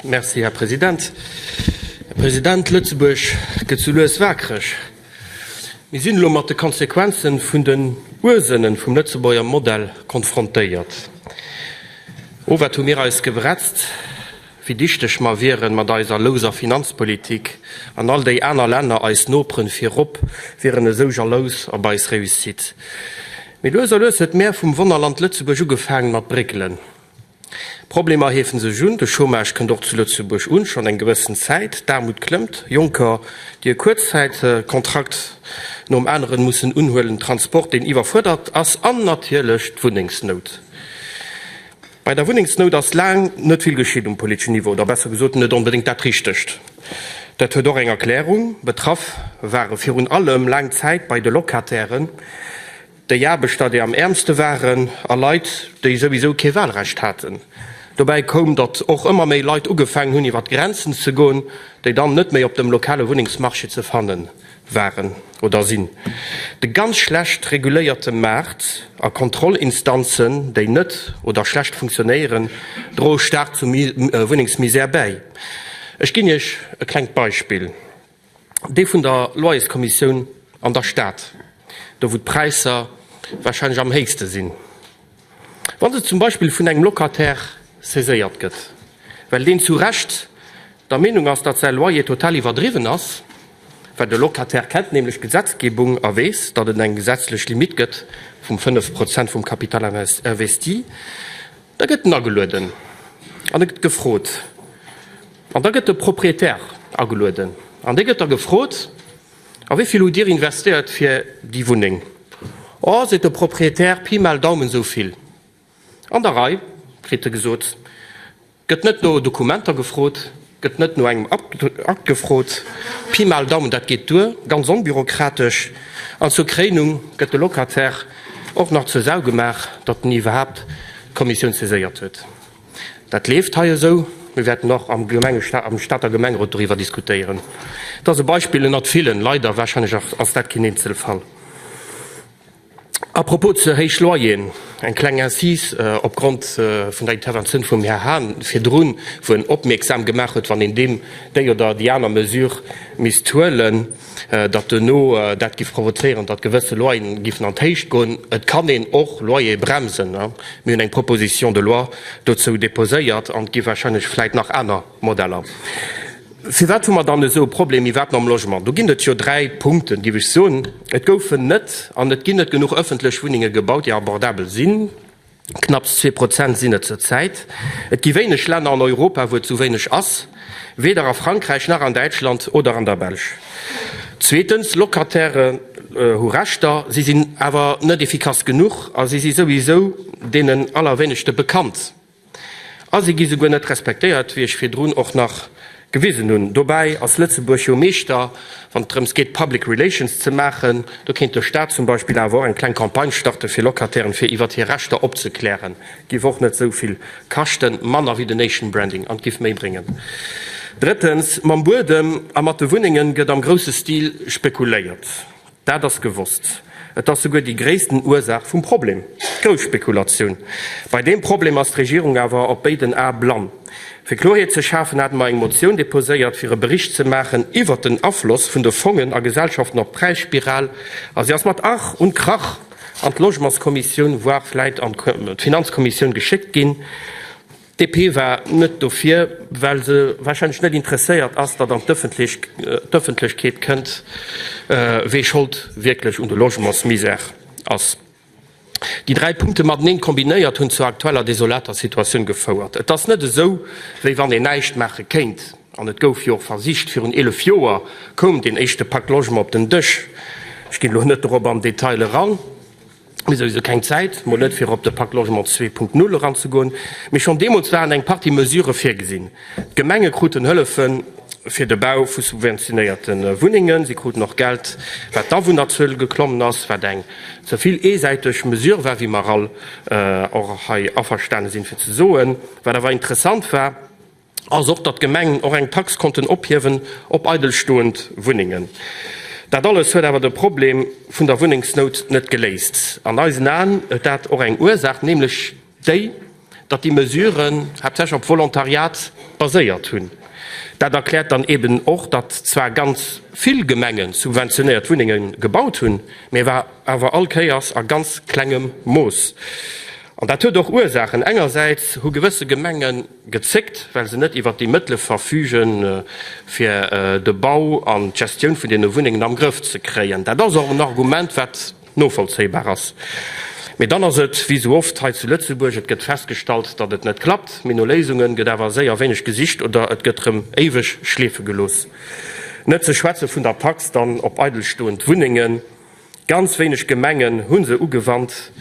Merci, Här President. Här President, Lëtzebuerg gëtt sou lues waakreg. Mir sinn elo mat de Konsequenze vun den Ursënne vum Lëtzebuerger Modell konfrontéiert. Owert hu mir eis gebretzt. wéi dichteg mer wieren mat eiser louser Finanzpolitik, an all déi aner Länner, eis Noperen virop, wieren esou jalous op eis Réussite. Mee lues a lues huet d'Mär vum Wonnerland Lëtzebuerg ugefaangen mat bréckelen. D'Problemer heefen sech un, de Chômage kënnt och zu Lëtzebuerg un, schonn eng gewëssen Zäit, d'Aarmut klëmmt, Jonker, déi e Kuerzzäitkontrakt nom aneren mussen unhuelen, Transport, deen iwwerfuerdert ass, an natierlech d'Wunnengsnout. Bei der Wunnengsnout ass laang net vill geschitt um politeschen Niveau, oder besser gesot net onbedéngt dat Richtegt. Dat huet och eng Erklärung, Betraff ware virun allem laang Zäit bei de Locatairen déi Aarbechter, déi am äermste waren, a Leit, déi souwisou kee Wahlrecht haten. Dobäi koum, datt och ëmmer méi Leit ugefaangen hunn iwwer d'Grenzen ze goen, déi dann net méi op dem lokale Wunnengsmarché ze fanne waren oder sinn de ganz schlecht reguléierte Maart a Kontrollinstanzen, déi net oder schlecht funktionéieren, droe staark zur Wunnengsmisär bäi. Ech ginn Iech e klengt Beispill, dee vun der Loyerskommissioun an der Stad, do wou d'Präisser wahrscheinlech am héichste sinn. Wa se zum Beispill vun engem Locataire saiséiert gëtt, well deen zu Recht der Meenung ass, datt säi Loyer total iwwerdriwwen ass, well de Locataire kennt nämlech d'Gesetzgebung a weess, datt et eng gesetzlech Limitt gëtt vum 5 Prozent vum Capital investi, da gëtt en agelueden an e gëtt gefrot. An da gëtt de Proprietär agelueden an dee gëtt da gefrot. A wéi vill hutt Dir investéiert fir déi Wunneng? Oh, seet de Proprietär, Pi mal Daumen esou vill. An der Rei, kritt e gesot. Gëtt net no Dokumenter gefrot, gëtt net no engem Akt gefrot. Pi mal Daumen, dat geet duer, ganz onbürokratesch. An zur Kréinung gëtt de Locataire och nach zur Sau gemaach, datt en iwwerhaapt d'Kommissioun saiséiert huet. Dat leeft hei esou. Mir wäerten och am Gemengestat, am Stater Gemengerot doriwwer diskutéieren. Et ass e Beispill ënnert villen, leider, wahrscheinlech ass dat keen Eenzelfall. A propos ze héich Loyeren, eng kleng Incise opgrond vun der Interventioun vum Här Hahn virdrun, wou en opmierksam gemaach huet, wann een deem, déi oder déi aner Mesure misst huelen, datt duerno dat giff provozéieren, datt gewësse Loyeren giffen an d'Héicht goen. Et kann een och Loyere bremsen. Mir hunn eng Proposition de loi dozou déposéiert an et gi wahrscheinlech vläit nach aner Modeller. Firwat hu mer dann esou e Problem iwwerhaapt mam Logement? Do ginn et jo dräi Punkten, giff ech soen. Et goufen net an et ginn net genuch ëffentlech Wunnenge gebaut, déi abordabel sinn. Knapps zwee Prozent sinn et zur Zäit. Et gi wéineg Länner an Europa, wou et esou wéineg ass, weder a Frankräich nach an Däitschland oder an der Belsch. Zweetens, Locataire hu Rechter, si sinn awer net efficace genuch a si si souwisou deenen allerwéinegste bekannt a si gi souguer net respektéiert, wéi ech virdrun och nach Gewisen hunn. Dobäi ass Lëtzebuerg jo Meeschter, wann et drëms geet, Public Relations ze maachen. Do kéint de Staat zum Beispill awer och eng kleng Campagne starten, fir Locatairen fir iwwert hir Rechter opzeklären. Giff och net esou vill kaschten, manner wéi den Nation Branding, an giff méi bréngen. Drëttens, mam Buedem a mat de Wunnengen gëtt am grousse Stil spekuléiert. Dat ass gewosst. Et ass souguer déi gréissten Ursaach vum Problem, d'Grousspekulatioun. Bei deem Problem ass d'Regierung awer op béiden Ae blann. Fir Kloreet ze schafen, hate mer eng Motioun deposéiert, fir e Bericht ze maachen iwwert den Afloss vun de Fongen a Gesellschaften op d'Präisspiral, a si ass mat Ach und Krach an d'Logementskommissioun, voire vläit an d'Finanzkommissioun geschéckt ginn. D'DP war net dofir, well se warscheinlech net interesséiert ass, datt an d'Ëffentlechkeet kënnt, wee Schold wierklech un de Logementsmisère ass. Déi dräi Punkte mateneen kombinéiert hunn zur aktueller desolater Situatioun gefouert. Et ass net esou, wéi wann een näischt maache kéint, an et gouf jo och versicht. Virun 11 Joer koum deen éischte Pak Logement op den Dësch. Ech ginn elo net dorop am Detail eran. Mir hu souwisou keng Zäit, mol net fir op de Pak Logement 2.0 eranzegoen, mee schonn deemools waren eng Partie Mesure virgesinn. D'Gemenge kruten Hëllefe fir de Bau vu subventionéierte Wunnengen. Si kruten och Geld, wat d'Awunnerzuel geklommen ass, wat eng ze vill eesäiteg Mesure war, wéi mer all och hei averstane sinn fir ze soen. Wat awer interessant war, ass och, datt d'Gemengen och eng Tax konnten ophiewen op eidelstoend Wunnengen. Dat alles huet awer de Problem vun der Wunnengsnout net geléist. An eisen Aen huet dat och eng Ursaach, nämlech déi, datt déi Mesuren haaptsächlech op Volontariat baséiert hunn. Dat erkläert dann eben och, datt zwar ganz vill Gemenge subventionéiert Wunnenge gebaut hunn, mä awer all Kéiers a ganz klengem Mooss. An dat huet och Ursaachen, Engersäits hu gewësse Gemengen, gezéckt, well se net iwwert déi Mëttele verfügen, fir de Bau an d'Gestioun vun deene Wunnengen am Grëff ze kréien. Dat ass och en Argument, wat novollzéibar ass. Mee dann ass et wéi esou oft hei zu Lëtzebuerg, Et gëtt festgestallt, datt et net klappt, mee no Léisunge gëtt awer séier wéineg gesicht oder et gëtt rëm éiweg schleefe gelooss. Net ze schwätze vun der Tax dann op eidelstoend Wunnengen. Ganz wéineg Gemengen hu se ugewannt.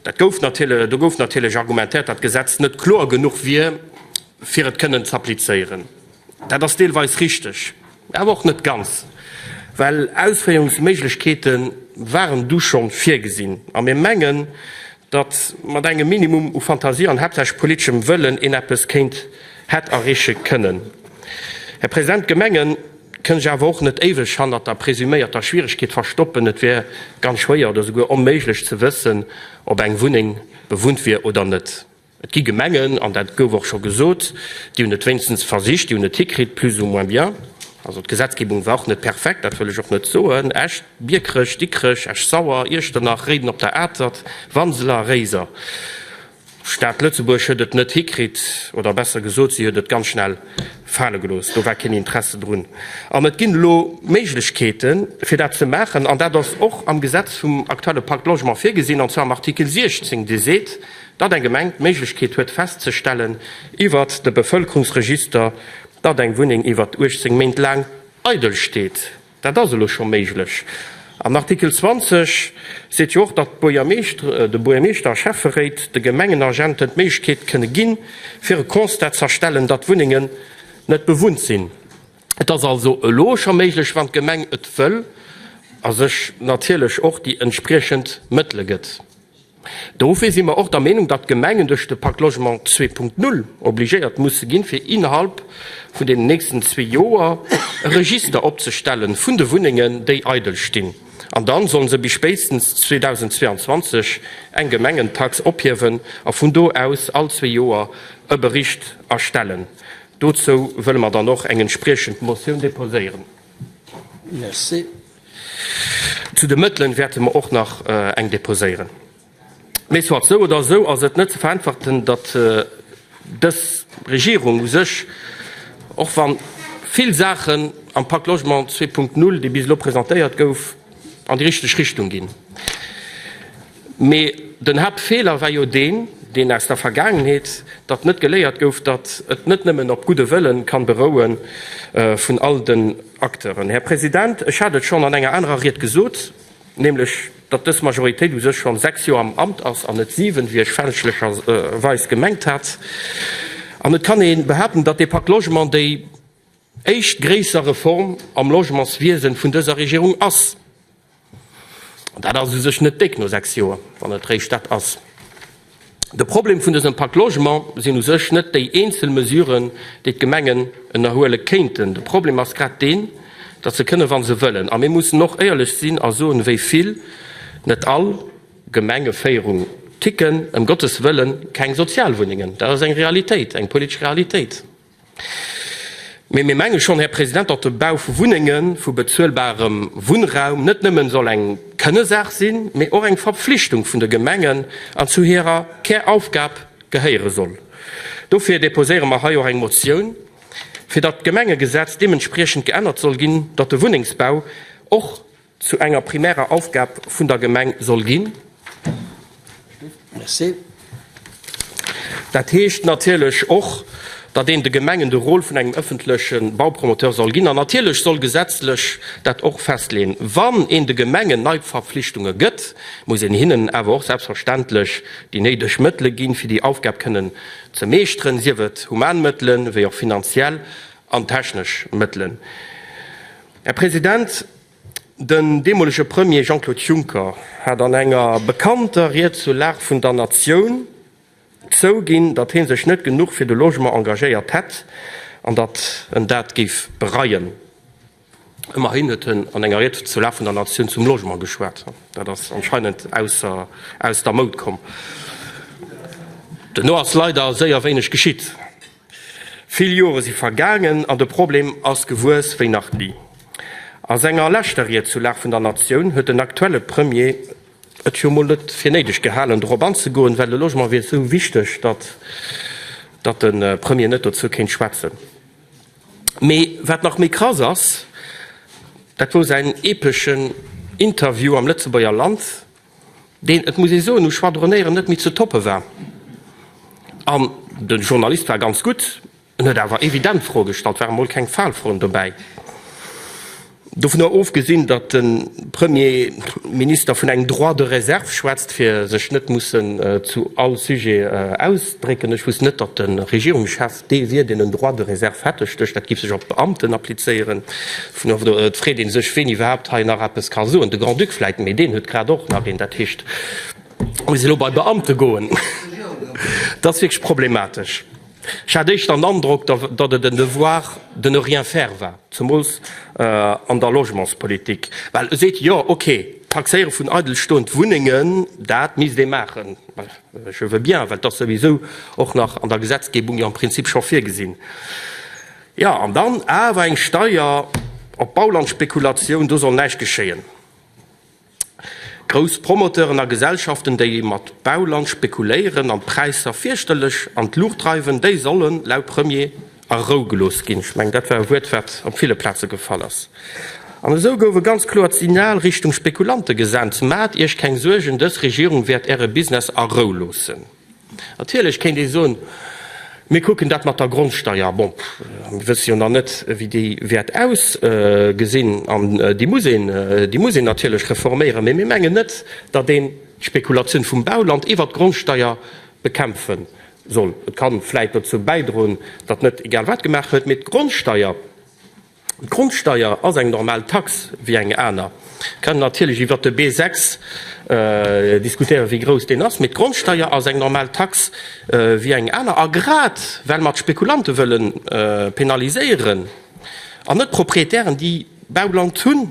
Do gouf natierlech argumentéiert, datt d'Gesetz net kloer genuch wier, fir et kënnen z'applizéieren. Dat ass deelweis richteg, awer och net ganz, well Ausféierungsméiglechkeete waren du scho virgesinn. A mir mengen, datt mat engem Minimum u Fantasie an haaptsächlech politeschem Wëllen een eppes kéint hätt erreeche kënnen. Här President, d'Gemengen. kënnt sech awer och net éiweg hannert der presuméierter Schwieregkeet verstoppen. Et wier ganz schwéier oder souguer onméiglech ze wëssen, ob eng Wunneng bewunnt wier oder net. Et gi Gemengen, an dat gouf och scho gesot, déi hunn et wéinstens versicht, déi hunn et hikritt, plus ou moins bien. Also d'Gesetzgebung war och net perfekt, dat wëll ech och net soen. Esch, Biekerech, Dikrech, Esch-Sauer, Iechternach, Réiden op der Atert, Wanseler, Réiser. D'Stad Lëtzebuerg huet et net hikritt, oder besser gesot, si huet et ganz schnell fale gelooss. Do war keen Interesse drun. An et ginn elo Méiglechkeeten, fir dat ze maachen. An dat ass och am Gesetz vum aktuelle Pacte Logement virgesinn, an zwar am Artikel 16, dee seet, datt eng Gemeng d'Méiglechkeet huet festzestellen iwwert de Bevëlkerungsregister, datt eng Wunneng iwwert 18 Méint laang eidel steet. Dat ass elo scho méiglech. An Artikel 20 seet jo och, datt de Buergermeeschter a Schäfferéit de Gemengenagenten d'Méiglechkeet kënne ginn, fir e Constat z'erstellen, datt Wunnengen net bewunnt sinn. Et ass also elo scho méiglech, wann d'Gemeng et wëll a sech natierlech och déi entspriechend Mëttele gëtt. Dofir si mer och der Meenung, datt d'Gemengen duerch de Pacte Logement 2.0 obligéiert musse ginn, fir innerhalb vun den nächsten zwee Joer e Register opzestelle vun de Wunnengen, déi eidel stinn. An da solle se bis spéitstens 2022 eng Gemengentax ophiewen a vun do aus all zwee Joer e Bericht erstellen. Dozou wëlle mer dann och eng entspriechend Motioun deposéieren. Merci. Zu de Mëttelen wäerte mer och nach eng deposéieren. Mee soit, sou oder esou ass et net ze vereinfachten, datt dës Regierung u sech, och wa vill Saachen am Pacte Logement 2.0, dee bis elo presentéiert gouf, an déi richteg Richtung ginn. Mee den Haaptfeeler war jo deen, deen aus der Vergaangenheet, datt net geléiert gouf, datt et net nëmmen op gudde Wëlle ka beroue vun all de. Acteuren. Här President, ech hat et schonn an enger anerer Ried gesot, nämlech datt dës Majoritéit u sech schonn sechs Joer am Amt ass an net siwen, wéi ech fälschlecherweis gemengt hat. An et kann ee behaupten, datt dee Pakt Logement déi éischt gréisser Reform am Logementswiese vun dëser Regierung ass. Dat ass u sech net déck no sechs Joer, wann et réischt dat ass. De Problem vun dësem Pak Logement sinn u sech net déi eenzel Mesuren, déi d'Gemengen ënnerhuele kéinten. De Problem ass grad deen, datt se kënnen, wa se wëllen. A mir mussen och éierlech sinn a soen, wéi vill, net all, Gemengeféierung ticken. Ëm Gottes Wëllen, keng Sozialwunnengen! Dat ass eng Realitéit, eng politesch Realitéit. Mee mir menge schonn, Här President, datt de Bau vu Wunnengen, vu bezuelbarem Wunnraum net nëmme soll eng Kënnesaach sinn, mee och eng Verpflichtung vun de Gemengen an zu hirer Käraufgab gehéiere soll. Dofir deposéiere mer hei och eng Motioun, fir datt d'Gemengegesetz deementspriechend geännert soll ginn, datt de Wunnengsbau och, zu enger primärer Aufgab vun der Gemeng soll ginn. Dat heescht natierlech och, datt een de Gemengen de Rôle vun engem ëffentleche Baupromoteur soll ginn. An natierlech soll gesetzlech dat och festleeën. Wann een de Gemengen nei Verpflichtunge gëtt, muss een hinnen awer och selbstverständlech déi néideg Mëttele ginn, fir déi Aufgab kënnen ze meeschteren, sief et human Mëttelen, wéi och finanziell an technesch Mëttelen. Här President. Den deemolege Premier Jean-Claude Juncker hat an enger bekannter Ried zur Lag vun der Natioun zouginn, datt hie sech net genuch fir de Logement engagéiert hätt an datt en dat géif bereien. Ëmmerhin huet en an enger Ried zur Lag vun der Natioun zum Logement geschwat. Dat ass anscheinend aus der Moud komm. Duerno ass leider séier wéineg geschitt. Vill Jore si vergaangen an de Problem ass gewuess wéi nach ni. A senger leschter Ried zur Lag vun der Natioun huet den aktuelle Premier et jo mol net fir néideg gehalen, dorop anzegoen, well de Logement wier esou wichteg, datt de Premier net dozou kéint schwätzen. Mee wat nach méi krass ass, dat wou säin epeschen Interview am Lëtzebuerger Land, deen, et muss ee soen, um Schwadronéieren net méi ze toppe war. An de Journalist war ganz gutt, en huet awer evident Froe gestallt, waren emol keng Faalfroen dobäi. Dovun ofgesinn, datt de Premier Minister vun engem Droit de réserve schwätzt, fir sech net mussen zu all Sujet ausdrécken. Ech wousst net, datt de Regierungschef, Dee wier, deen en droit de réserve hätt. Ech dech, dat giff sech op d'Beamten applizéieren. Vun do et freet ee sech, ween iwwerhaapt hei nach eppes ka soen. De Grand-Duc vläit, mee deen huet grad och nach een. Dat heescht, muss elo bei Beamte goen. Dat ass wierklech problematesch. Ech hat éischter den Androck, datt et en Devoir de ne rien faire war, zemools an der Logementspolitik. Well e seet, jo, okay, d'Taxéiere vun eidelstoend Wunnengen, dat misst ee maachen. Je veux bien, well et ass souwisou och nach an der Gesetzgebung jo am Prinzip scho virgesinn. Jo, an dann awer eng Steuer op d'Baulandspekulatioun, do soll näischt geschéien. Grouss Promoteuren a Gesellschaften, déi mat Bauland spekuléieren an d'Präisser fierchterlech an d'Luucht dreiwen, déi sollen, laut Premier, A Rou gelooss ginn. Ech mengen, dat war e Wuert, wat op ville Plaze gefall ass. An esou gouf e ganz kloert Signal Richtung Spekulante gesent, Maacht Iech keng Suergen, dës Regierung wäert Äre Business a Rou loossen. Natierlech kéint ee soen, Mir kucken dat mat der Grondsteier. Bon, mir wësse jo nach net, wéi déi wäert ausgesinn. An déi muss een, déi muss een natierlech reforméieren. Mee mir mengen net, datt een d'Spekulatioun vum Bauland iwwert d'Grondsteier bekämpfe soll. Et ka vläit dozou bäidroen, datt net egal wat gemaach gëtt, mee d'Grondsteier, d'Grondsteier ass eng normal Tax wéi eng aner. Mir kënnen natierlech iwwert de B6 diskutéieren, wéi grouss deen ass, mee d'Grondsteier ass eng normal Tax wéi eng aner. A grad well mer d'Spekulante wëlle penaliséieren an net d'Proprietären, déi Bauland hunn,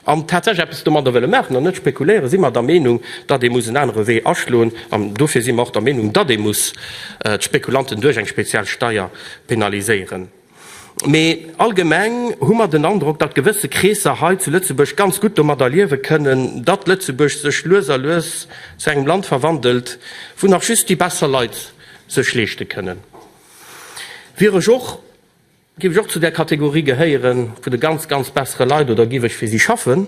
an tatsächlech eppes domadder wëlle maachen an net spekuléieren, si mer der Meenung, datt ee muss en anere Wee aschloen. An dofir si mer och der Meenung, datt ee muss d'Spekulanten duerch eng speziell Steier penaliséieren. Mee allgemeng hu mer den Androck, datt gewësse Kreesser hei zu Lëtzebuerg ganz gutt domadder liewe kënnen, datt Lëtzebuerg sech lues a lues zu engem Land verwandelt, wou nach just déi besser Leit sech leeschte kënnen. Wier ech och. Giff ech och zu der Kategorie gehéieren vun de ganz, ganz bessere Leit oder giff ech fir si schaffen,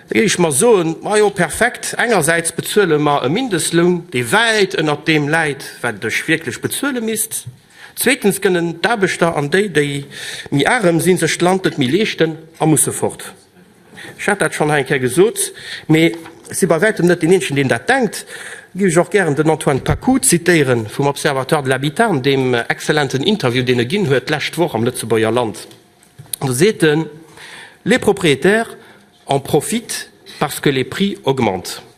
da giff ech mer soen, majo perfekt, engersäits bezuele mer e Mindestloun, dee wäit ënnert deem läit, wat ech wierklech bezuele misst, zweetens kënnen d'Aarbechter an déi, déi méi arem sinn, sech d'Land net méi leeschten a musse fort. Ech hat dat schonn hei eng Kéier gesot, mee ech si bei wäitem net deen Eenzegen, deen dat denkt. Da géif ech och gären den Antoine Pacou zitéiere vum Observatoire de l'habitat an deem exzellenten Interview, deen e ginn huet d'lescht Woch am Lëtzebuerger Land. Do seet en, Les propriétaires en profitent parce que les prix augmentent.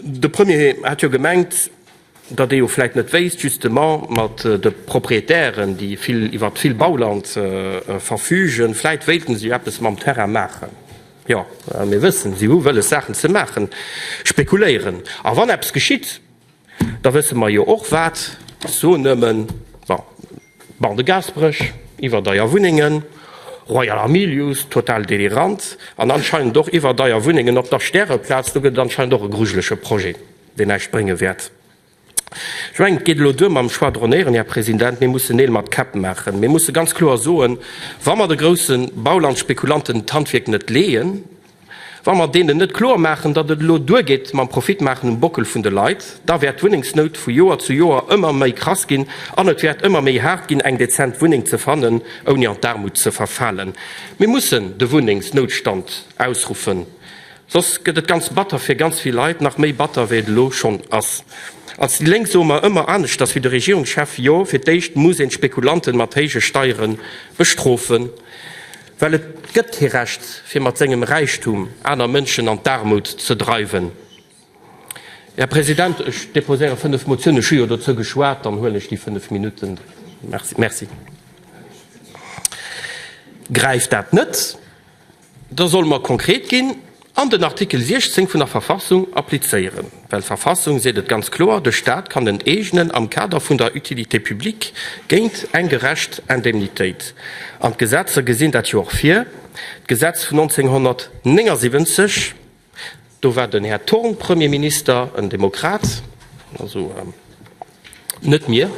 De Premier hat jo gemengt, datt ee jo vläicht net wéisst, justement mat de Propriétairen, déi vill iwwert vill Bauland verfügen, vläicht wéilten se jo eppes mam Terrain maachen. Jo, mir wëssen, se hu wëlles Saachen ze maachen, spekuléieren. A wann eppes geschitt, da wësse mer jo och wat. Ech soen nëmmen, bon. Banc de Gaasperech, iwwerdeier Wunnengen, Royal Hamilius, total delirant, an anscheinend och iwwerdeier Wunnengen op der Stäreplaz. Do gëtt et anscheinend och e grujelege Projet, deen näischt brénge wäert. Ech mengen, et geet elo duer mam Schwadronéieren, Här President. Mir mussen Neel mat Käpp maachen. Mir musse ganz kloer soen, Wa mer de grousse Baulandspekulanten d'Handwierk net leeën, Wa mer deenen net kloer maachen, datt et elo duergeet mam Profit maachen um Bockel vun de Leit, da wäert d'Wunnengsnout vu Joer zu Joer ëmmer méi krass ginn an et wäert ëmmer méi haart ginn, eng dezent Wunneng ze fannen, ouni an d'Aarmut ze verfalen. Mir mussen de Wunnengsnoutstand ausruffen, soss gëtt et ganz batter fir ganz vill Leit, nach méi batter wéi et elo schonn ass. Als déi Lénk soe mer ëmmer aneschters wéi de Regierungschef, Jo, fir d'éischt muss een d'Spekulanten mat héije Steiere bestrofen. Well et gëtt kee Recht, fir mat sengem Räichtum aner Mënschen an d'Aarmut ze dreiwen. Här President, ech deposéiere fënnef Motiounen. Ech hu jo dozou geschwat, dann huelen ech déi fënnef Minutten. Merci. Gräift dat net, da solle mer konkret ginn. An den Artikel 16 vun der Verfassung applizéieren. Well d'Verfassung seet et ganz kloer, de Staat kann en eegenen am Kader vun der Utilité publique géint eng gerecht Indemnitéit. An d'Gesetzer gesinn dat jo och vir. D'Gesetz vun 1979, do war den Här Thorn Premier Minister, en Demokrat, also, Net mir.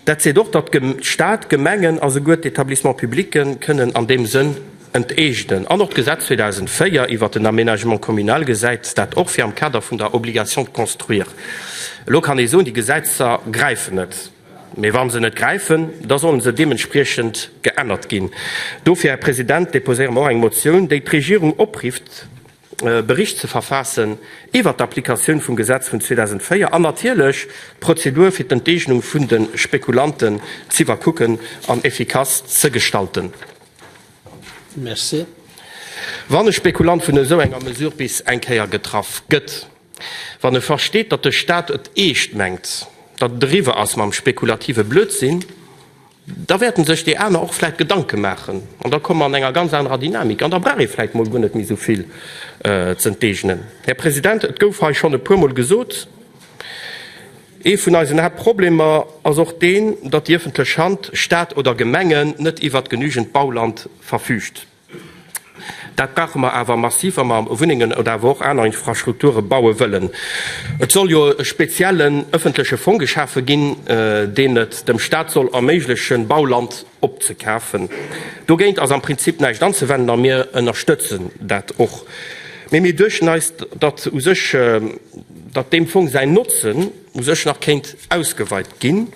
Dat seet och, datt Staat, Gemengen a souguer d'Etablissements publics kënnen an deem Sënn enteegnen. An och d'Gesetz 2004 iwwert den Aménagement communal gesäit dat och vir am Kader vun der Obligation de construire. Elo kann ee soen, déi Gesetzer gräifen net. Mee wa se net gräifen, da solle se deementspriechend geännert ginn. Dofir, Här President, deposéiere mer och eng Motioun, déi d'Regierung oprifft, Bericht ze verfaassen iwwert d'Applikatioun vum Gesetz vun 2004 an natierlech d'Prozedur fir d'Enteegnung vun de Spekulanten z'iwwerkucken an effikass ze gestalten. Wann e Spekulant vun esou enger Mesure bis eng Kéier getraff gëtt, wann e versteet, datt de Stat et eescht mengt, datt et eriwwer ass mam spekulative Blödsinn, Da wäerten sech déi aner och vläit Gedanke maachen an da komme mer an enger ganz anerer Dynamik an da brauch ee vläit mol guer net méi esou vill z'enteegnen. Här President, et gouf hei schonn e puermol gesot, Ee vun eisen Haaptproblemer ass och deen, datt déi ëffentlech Hand, Stat oder Gemengen, net iwwert genügend Bauland verfüügt. Dat brauche mer awer massiv, wa mer Wunnengen oder awer och aner Infrastrukture baue wëllen. Et soll jo e speziellen öffentleche Fong geschafe ginn, deen et dem Stat soll erméiglechen, Bauland opzekafen. Dogéint ass am Prinzip näischt anzewenden a mir ënnerstëtzen dat och. Mee mir duechten eis, datt u sech, datt deem Fong säin Notzen u sech nach kéint ausgeweit ginn.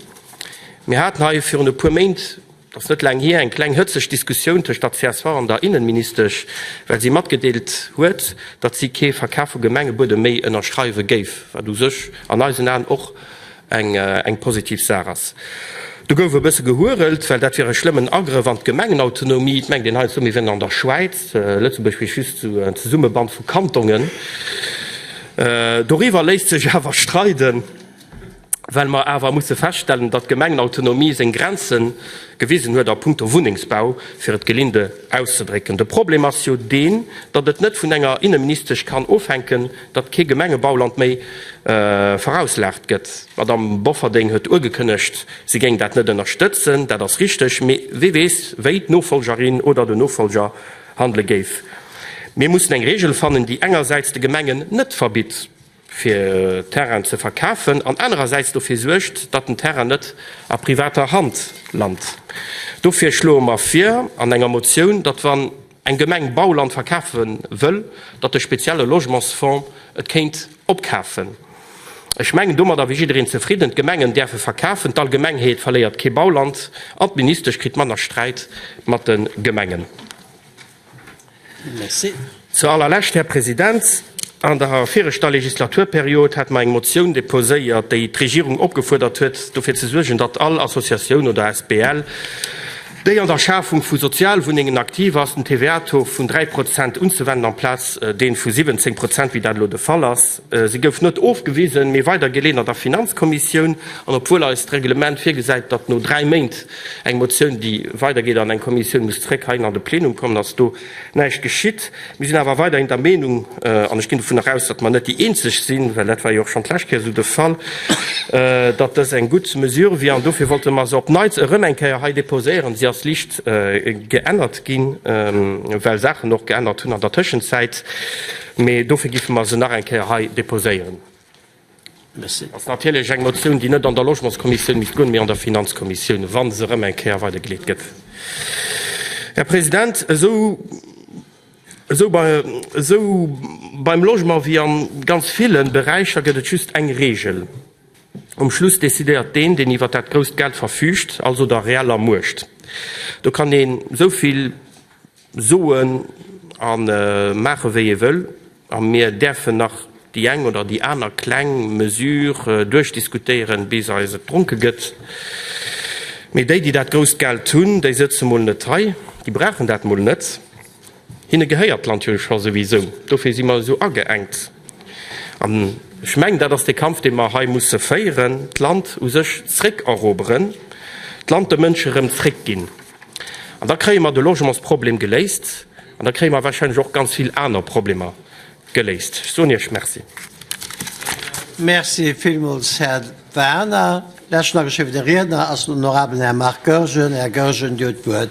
Mir haten hei virun e puer Méint, Et ass net laang hier eng kleng hëtzeg Diskussioun tëscht der csv an der Innenministesch, well si matgedeelt huet, datt si kee Verkaf vu Gemengebuedem méi ënnerschreiwe géif, wat u sech an eisen Aen och eng positiv Saach ass. Do gouf e bësse gehurelt, well dat wier e schlëmmen Agrëff an d'Gemengenautonomie. Et mengt een heiansdo, mir wieren an der Schwäiz, Lëtzebuerg wier just esou en Zesummeband vu Kantonen. Doriwwer léisst sech awer streiden. Well mer awer musse feststellen, datt d'Gemengenautonomie seng Grenze gewisen huet a punkto Wunnengsbau, fir et gelinde auszedrécken. De Problem ass jo deen, datt et net vun enger Inneministesch kann ofhänken, datt kee Gemengebauland méi verauslagert gëtt. D'Madamm Bofferding huet ugekënnegt, si géing dat net ënnerstëtzen. Dat ass richteg. Mee wie weess, wéi d'Nofollgerin oder de Nofollger handele géif. Mir mussen eng Reegel fannen, déi engersäits de Gemengen net verbitt, fir Terrainen ze verkafen, an anerersäits dofir suergt, datt den Terrain net a privater Hand lant. Dofir schloe mer vir an enger Motioun, datt wann eng Gemeng Bauland verkafe wëll, datt de spezielle Logementsfonds et kéint opkafen. Ech mengen, domadder wier jiddereen zefridden, d'Gemengen däerfe verkafen, d'Allgemengheet verléiert kee Bauland an d'Ministesch kritt manner Sträit mat de Gemengen. Zur allerlescht, Här President, An der viregter Legislaturperiod hate mer eng Motioun deposéiert, déi d'Regierung opgefuerdert huet, dofir ze suergen, datt all Associatioun oder asbl, déi an der Schafung vu Sozialwunnengen aktiv ass, den TVA-Taux vun 3 Prozent unzewenden amplaz dee vu 17 Prozent, wéi dat elo de Fall ass. Se gouf net ofgewisen, mee weidergeleeën an der Finanzkommissioun. An obwuel eist Reglement virgesäit, datt no dräi Méint eng Motioun, déi weidergeet an eng Kommissioun, muss zréck heihin an de Plenum kommen, ass do näischt geschitt. Mir sinn awer weiderhin der Meenung, an ech ginn dovunner aus, datt mer net déi Eenzeg sinn, well dat war jo och schonn d'lescht Kéier esou de Fall, datt dës eng gutt Mesure wier. An dofir wollte mer se op neits erëm eng Kéier hei déposéieren. Si ass licht geännert ginn, well Saachen och geännert hunn an der Tëschenzäit. Mee dofir géife mer se nach eng Kéier hei déposéieren. Et ass natierlech eng Motioun, déi net an der Logementskommissioun misst goen, mee an der Finanzkommissioun, wa se erëm eng Kéier weidergeleet gëtt. Här President, esou beim Logement wéi a ganz ville Beräicher gëtt et just eng Reegel, Um Schluss decidéiert deen, deen iwwer dat grousst Geld verfüügt, also der reeller Muecht. Do kann een esou vill. Soen a maache wéi ee wëll, a mir däerfen nach déi eng oder déi aner kleng Mesure duerchdiskutéieren, bis eis et dronke gëtt, mee déi, déi dat grousst Geld hunn, déi sëtze mol net hei, déi brauchen dat mol net, hinne gehéiert d'Land jo scho souwisou, dofir si mer esou ageengt. An ech mengen, dat ass dee Kampf, dee mer hei musse féieren, d'Land u sech zréckeroberen, d'Land de Mënschen erëm zréckginn. An da kréie mer de Logementsproblem geléist an da kréie mer warscheinlech och ganz vill aner Problemer geléist. Ech soen Iech Merci. Merci villmools, Här Werner. Leschten ageschriwwene Riedner ass den honorabelen Här Marc Goergen. Här Goergen, Dir hutt d'Wuert.